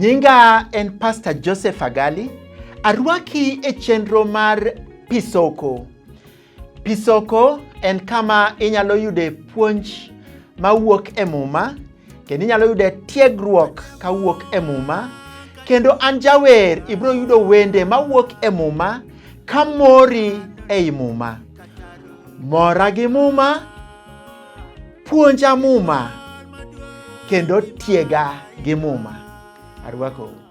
Nyinga en Pastor Joseph Agali. Arwaki e chenro mar Pisoko. Pisoko en kama inyalo yude puonj mawuok e Muma kendo inyalo yude tiegruok kawuok e Muma kendo an jawer ibiro yudo wende mawuok e Muma ka mori ei Muma. Mora gi Muma, puonja Muma kendo tiega gi Muma. Arwakou.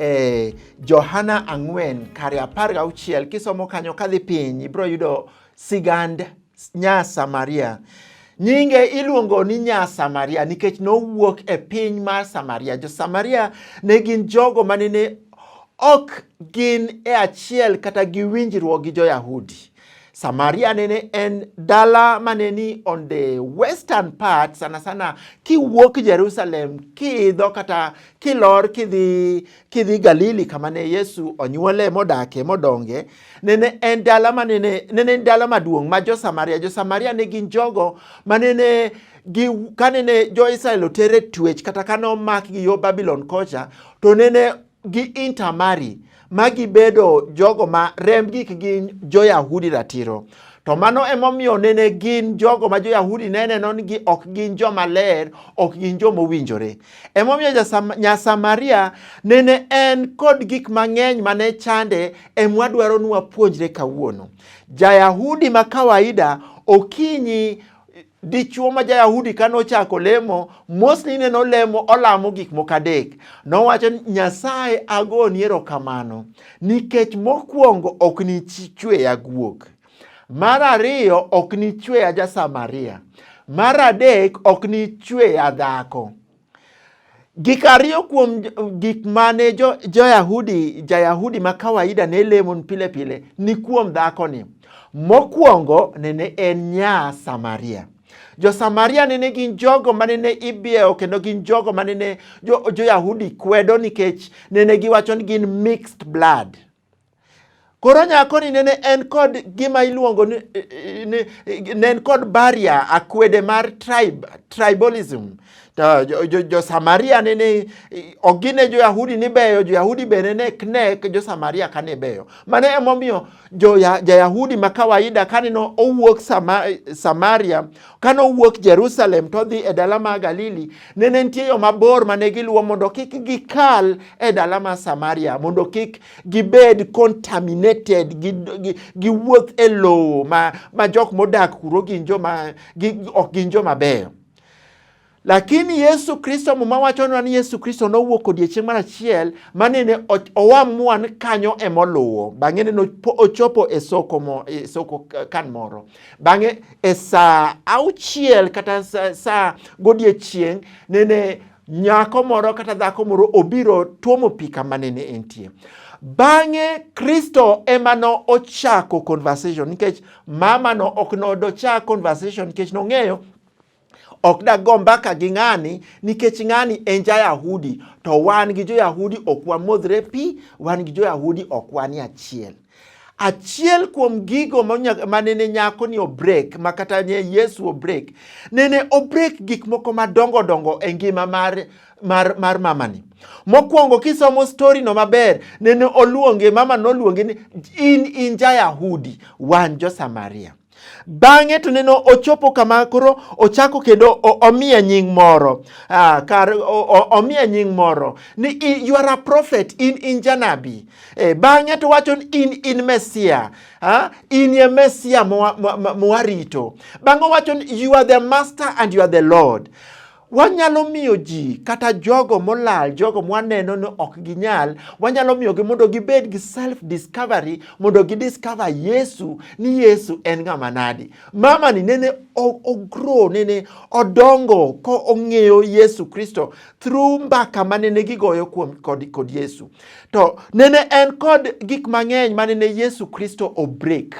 e Johana ang'wen kare apar ga auchiel kisomo kanyo kadhi piny ibiro yudo sigand nya Samaria. Nyinge iluongo ni nya Samaria nikech nowuok e piny mar Samaria. Jo Samaria ne gin jogo manene ok gin e achiel kata gi winjruok gi jo Yahudi. Samaria nene en dala mane ni on the western part sana sana kiwuok Jerusalem kiidho kata kilor kidhi kidhi Galili kama ne Yesu onyuole modake modonge nene en dala manene nene en dala maduong' ma jo Samaria jo Samaria ne gin jogo manene gi kanene jo Israel otere twech kata kane omak gi yo Babylon kocha to nene gi intermarry ma gibedo jogo ma remb gik gin jo-Yahudi ratiro. To mano emomiyo nene gin jogo ma jo-Yahudi ne neno ni gi ok gin joma ler, ok gin joma owinjore. Emomiyo jasam- Nyasamaria nene en kod gik mang'eny ma ne chande emwa dwaro ni wapuonjre kawuono. Ja-Yahudi ma kawaida okinyi Dichwo ma ja-Yahudi ka nochako lemo, mosni ne nolemo olamo gik moko adek. Nowacho ni, Nyasaye agoni erokamano nikech mokwongo ok nichweya guok. Mar ariyo ok nichweya ja-Samaria. Mar adek ok nichweya dhako. Gik ariyo kuom gik mane jo, jo-Yahudi, ja-Yahudi ma kawaida ne lemo pile pile ni kuom dhakoni. Mokwongo nene en nya Samaria. Jo-Samaria nene gin jogo ma nene ibiewo kendo gin jogo ma nene jo-Yahudi jo kwedo nikech nene giwacho ni gin mixed blood. Koro nyakoni nene en kod gima iluongo ni, ni ne en kod barrier akwede mar tribe, tribalism. To jo, jo, jo Samaria nene ogine jo Yahudi ni beyo, jo Yahudi be nene knek jo Samaria kane beyo. Mane emomiyo jo ja Yahudi ma kawaida kaneno owuok sama, Samaria Ka nowuok Jerusalem to odhi e dala ma Galili, ne nitie yo mabor ma ne giluwo mondo kik gikal e dala ma Samaria, mondo kik gibed contaminated, giwuoth e lowo ma, ma jok modak kuro gin joma ok gin joma beyo. Lakini Yesu Kristo, Muma wachonwa ni Yesu Kristo nowuok odiechieng' mar achiel ma nene owa mwan kanyo ema oluwo. Bang'e nene ochopo e soko, mo, e soko kan moro. Bang'e e saa auchiel kata saa sa godiechieng' nene nyako moro kata dhako moro obiro tuomo pi kama nene entie. Bang'e Kristo ema no ochako conversation nikech mama no ok nodochak conversation nikech nong'eyo ok dago mbaka gi ng'ani nikech ng'ani en ja-Yahudi to wan gi jo-Yahudi ok wamodhre pi, wan gi jo-Yahudi ok wan e achiel. Achiel kuom gigo ma nene nyako ni obrek ma kata ne Yesu obrek, nene obrek gik moko madongo dongo e ngima mar mar, mar mamani. Mokwongo kisomo stori no maber, nene oluonge, mama noluonge ni in in ja-Yahudi, wan jo-Samaria. Bang'e to neno ochopo kama koro ochako kendo omiya nying moro ah, kar omiya nying moro ni you are a prophet in in janabi eh, bang'e to wacho ni in in mesia ah, in ye mesia mowarito bang'e wacho ni you are the master and you are the lord Wanyalo miyo ji kata jogo molal, jogo mwaneno ni ok ginyal, wanyalo miyogi mondo gibed gi self discovery, mondo gidiscover Yesu ni Yesu en ng'ama nadi. Mama ni nene ogro, nene odongo ko ong'eyo Yesu Kristo through mbaka ma nene gigoyo kuom kod, kod Yesu. To nene en kod gik mang'eny ma nene Yesu Kristo obreak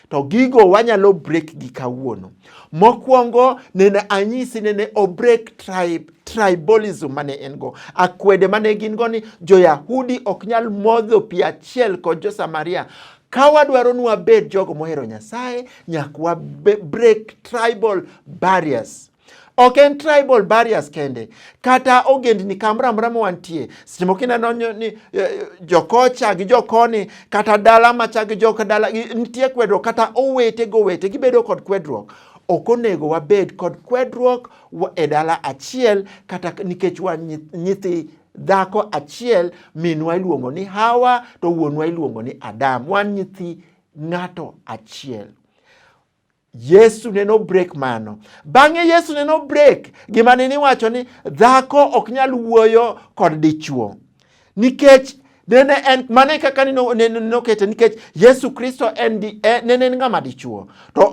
to gigo wanyalo break gi kawuono. Mokwongo nene anyisi nene o break tribe tribalism mane en go akwede mane gin go ni jo-Yahudi ok nyal modho pi achiel kod jo-Samaria ka wadwaro ni wabed jogo mohero Nyasaye nyaka wa break tribal barriers. Ok en tribal barriers kende kata ogendni kamoro amora ma wantie. Seche moko ineno ni eh, eh, jokocha gi jokoni kata dala macha gi joka dala nitie kwedruok kata owete go owete gibedo kod kwedruok. Ok onego wabed kod kwedruok e dala achiel kata nikech wan nyithi dhako achiel minwa iluongo ni Hawa to wuonwa iluongo ni Adam. Wan nyithi ng'ato achiel. Yesu ne no break mano. Bang'e Yesu ne no break gima ne niwacho ni dhako ok nyal wuoyo kod dichuo nikech nene en mane kaka nokete nikech Yesu Kristo en di, en, nene en ng'ama dichuo to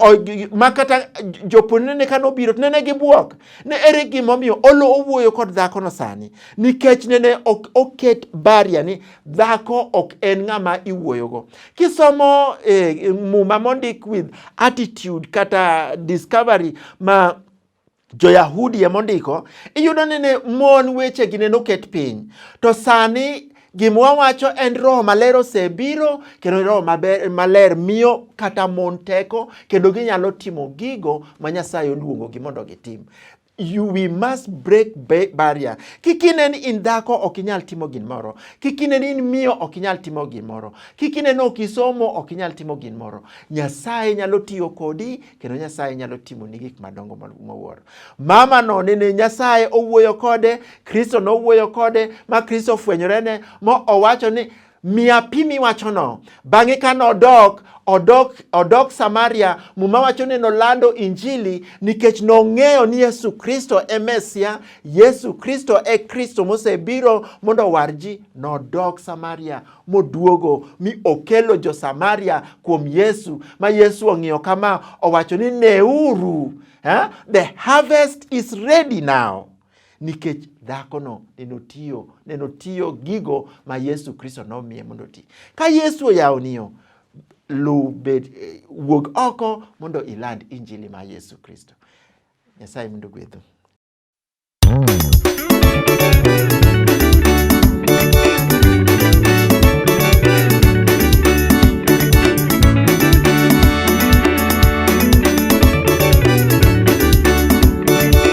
ma kata jopon nene ka nobiro to nene gibuok ne ere gimomiyo olo owuoyo kod dhakono sani nikech nene oket baria ni dhako ok en ng'ama iwuoyogo. Kisomo eh, muma mondik with attitude kata discovery ma jo-Yahudi ema ondiko, iyudo ni ne mon wechegi ne noket piny. To sani gima wawacho en roho maler osebiro kendo roho maber, maler miyo kata mon teko kendo ginyalo timo gigo ma Nyasaye oluongogi mondo gitim. you we must break barrier kik ine ni in dhako ok inyal timo gin moro kik ine ni in miyo ok inyal timo gin moro kik ine ni ok isomo ok inyal timo gin moro nyasaye nyalo tiyo kodi kendo nyasaye nyalo timo ni gik madongo mawuoro mama no nene nyasaye owuoyo kode kristo nowuoyo kode ma kristo ofwenyorene ma owacho ni Mia pi miwachono. Bang'e ka nodok odok, odok Samaria, Muma wacho ni nolando Injili nikech nong'eyo ni Yesu Kristo e Mesia, Yesu Kristo e Kristo mosebiro mondo owar ji. Nodok Samaria moduogo mi okelo jo Samaria kuom Yesu, ma Yesu ong'iyo kama, owacho ni neuru, eh? the harvest is ready now. nikech dhakono nenotiyo nenotiyo gigo ma Yesu Kristo nomiye mondo oti. Ka Yesu oyawoniyo luw bed eh, wuog oko mondo iland injili ma Yesu Kristo. Nyasaye mondo gwedhu.